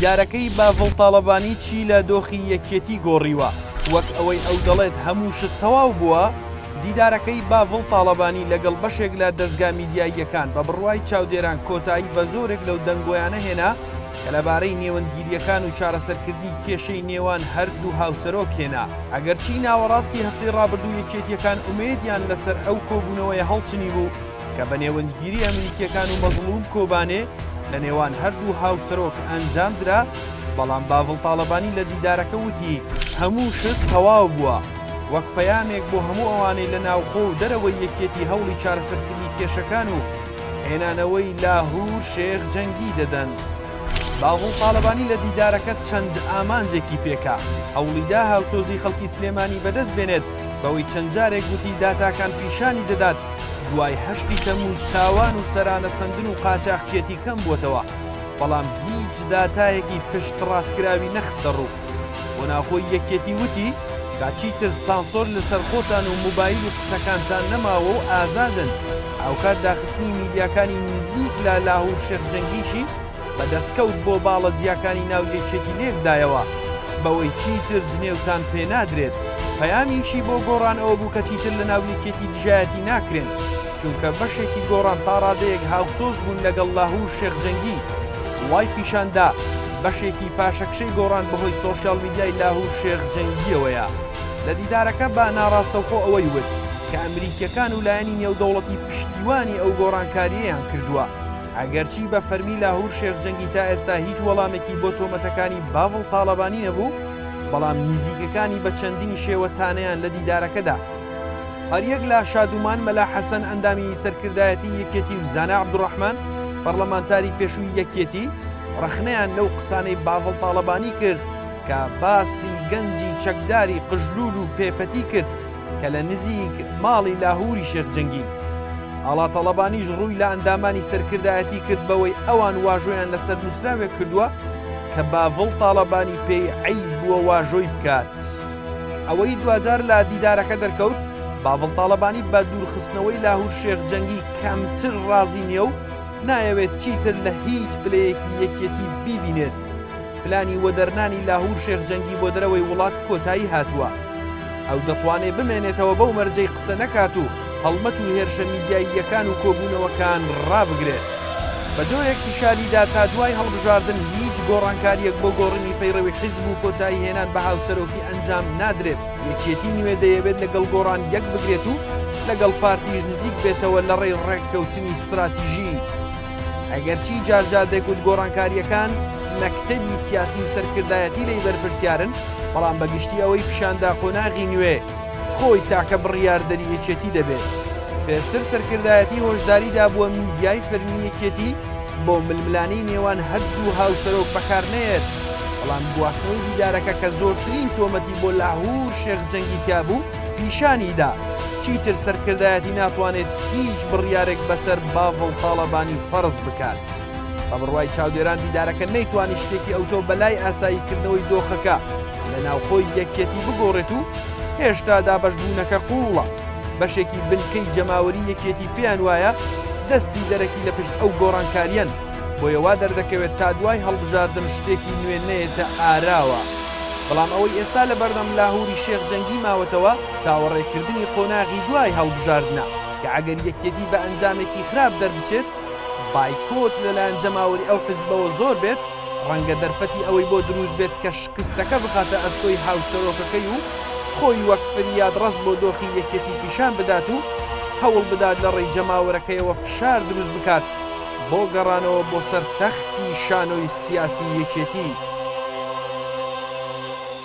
دیدارەکەی باڤڵ تاڵەبانی چی لە دۆخی یەکێتی گۆڕیوە وەک ئەوەی ئەو دەڵێت هەموو شت تەواو بووە دیدارەکەی باڤڵ تاڵەبانی لەگەڵ بەشێک لە دەستگا میدیاییەکان بە بڕوای چاودێران کۆتایی بە زۆرێک لەو دەنگۆیانە هێنا کە لەبارەی نێوەندگیرییەکان و چارەسەرکردنی کێشەی نێوان هەردوو هاوسەرۆک هێنا، ئەگەرچی ناوەڕاستی هەفتەی ڕابردوو یەکێتییەکان ئومێدیان لەسەر ئەو کۆبوونەوەیە هەڵچنیبوو کە بە نێوەندگیری ئەمریکییەکان و مەزڵووم کۆبانێ لەنێوان هەردوو هاوسەرۆک ئەنجامدرا، بەڵام باڤڵ تاڵەبانی لە دیدارەکە وتی، هەموو شت تەواو بووە، وەک پەیامێک بۆ هەموو ئەوانەی لە ناوخۆ و دەرەوەی یەکێتی هەوڵی چارەسەرکردنی کێشەکان و هێنانەوەی لاهور شێخ جەنگی دەدەن. بافڵ تاڵەبانی لە دیدارەکە چەند ئامانجێکی پێکا، هەوڵیدا هاوسۆزی خەڵکی سلێمانی بەدەست بێنێت بەوەی چەند جارێک گوتی داتاکان پیشانی دەدات دوای هەشتی تەموز تاوان و سەرانە سەندن و قاچاخچیەتی کەمبووەتەوە بەڵام هیچ داتایەکی پشتڕاستکراوی نەخستەڕوو. بۆ ناوخۆی یەکێتی وتی، کا چیتر سانسۆر لەسەر خۆتان و موبایل و قسەکانتان نەماوە و ئازادن، هاوکات داخستنی میدیاکانی نزیک لە لاهور شێخ جەنگیشی بە دەستکەوت بۆ باڵە جیاکانی ناو یەکێتی لێکدایەوە بەوەی چیتر جنێوتان پێنادرێت، پەیامیشی بۆ گۆڕان ئەوەبوو کە چیتر لەناو یەکێتی دژایەتی ناکرێن. چونکە بەشێکی گۆڕان تا ڕادەیەک هاوسۆز بوون لەگەڵ لاهور شێخ جەنگی وای پیشاندا بەشێکی پاشەکشەی گۆڕان بەهۆی سۆشیال میدیای لاهور شێخ جەنگیەوەیە لە دیدارەکە بە ناڕاستەوخۆ ئەوەی وت کە ئەمریکیەکان و لایەنی نێودەوڵەتی پشتیوانی ئەو گۆڕانکاریەیان کردووە ئەگەرچی بە فەرمی لاهور شێخ جەنگی تا ئێستا هیچ وەڵامێکی بۆ تۆمەتەکانی باڤڵ تاڵەبانی نەبوو بەڵام نزیکەکانی بە چەندین شێوە تانەیان لە دیدارەکەدا هەریەک لە شادومان مەلا حەسەن ئەندامی سەرکردایەتی یەکێتی و زانا عبدڕحمان پەرلەمانتاری پێشووی یەکێتی ڕەخنەیان لەو قسانەی باڤڵ تاڵەبانی کرد کە باسی گەنجی چەکداری قژلول و پێپەتی کرد کە لە نزیک ماڵی لاهوری شێخ جەنگین ئاڵا تەڵەبانیش ڕووی لە ئەندامانی سەرکردایەتی کرد بەوەی ئەوان واژۆیان لەسەر نووسراوێک کردووە کە باڤڵ تاڵەبانی پێی عیب بووە واژۆی بکات. ئەوەی دواجار لە دیدارەکە دەرکەوت، باڤڵ تاڵەبانی بە دوورخستنەوەی لاهور شێخ جەنگی کەمتر رازی نییە و نایەوێت چیتر لە هیچ پلەیەکی یەکێتی بیبینێت. پلانی وەدەرنانی لاهور شێخ جەنگی بۆ دەرەوەی وڵات کۆتایی هاتووە. ئەو دەتوانێت بمێنێتەوە بەو مەرجەی قسە نەکات و، هەڵمەت و هێرشە میدیاییەکان و کۆبوونەوەکان ڕابگرێت. بەجۆرێک پیشانی دا تا دوای هەڵبژاردن هیچ گۆڕانکارییەک بۆ گۆڕینی پەیڕەوی حیزب و کۆتایی هێنان بە هاوسەرۆکی ئەنجام نادرێت، یەکێتی نوێ دەیەوێت لەگەڵ گۆڕان یەک بگرێت و لەگەڵ پارتیش نزیک بێتەوە لەڕێی ڕێککەوتنی ستراتیژی. ئەگەرچی جار جار دەگوت گۆڕانکارییەکان مەکتەبی سیاسی و سەرکردایەتی لێی بەرپرسیارن، بەڵام بەگشتی ئەوەی پیشاندا قۆناغی نوێ، خۆی تاکە بڕیاردەری یەکێتی دەبێت. پێشتر سەرکردایەتی هۆشداری دابووە میدیای فەرمی یەکێتی بۆ ململانێی نێوان هەردوو هاوسەرۆک بەکار نەیەت، بەڵام گواستنەوەی دیدارەکە کە زۆرترین تۆمەتی بۆ لاهور شێخ جەنگی تیابوو پیشانی دا چیتر سەرکردایەتی ناتوانێت هیچ بڕیارێک بەسەر باڤڵ تاڵەبانی فەرز بکات. بە بڕوای چاودێران دیدارەکە نەیتوانی شتێکی ئەوتۆ بەلای ئاسایی کردنەوەی دۆخەکە لە ناوخۆی یەکیەتی بگۆڕێت و هێشتا دابەشبوونەکە قووڵە بەشێکی بنکەی جەماوەری یەکێتی پێیان وایە دەستی دەرەکی لە پشت ئەو گۆڕانکاریەن بۆیە وا دەردەکەوێت تا دوای هەڵبژاردن شتێکی نوێ نەیەتە ئاراوە بەڵام ئەوەی ئێستا لە بەردەم لاهوری شێخ جەنگی ماوەتەوە چاوەڕێکردنی قۆناغی دوای هەڵبژاردنە کە ئەگەر یەکێتی بە ئەنجامێکی خراپ دەربچێت بایکۆت لەلایەن جەماوەری ئەو حزبەوە زۆر بێت، ڕەنگە دەرفەتی ئەوەی بۆ دروست بێت کە شکستەکە بخاتە ئەستۆی هاوسەرۆکەکەی و خۆی وەک فریادڕەس بۆ دۆخی یەکێتی پیشان بدات و هەوڵ بدات لە ڕێی جەماوەرەکەیەوە فشار دروست بکات بۆ گەڕانەوە بۆ سەر تەختی شانۆی سیاسی یەکێتی.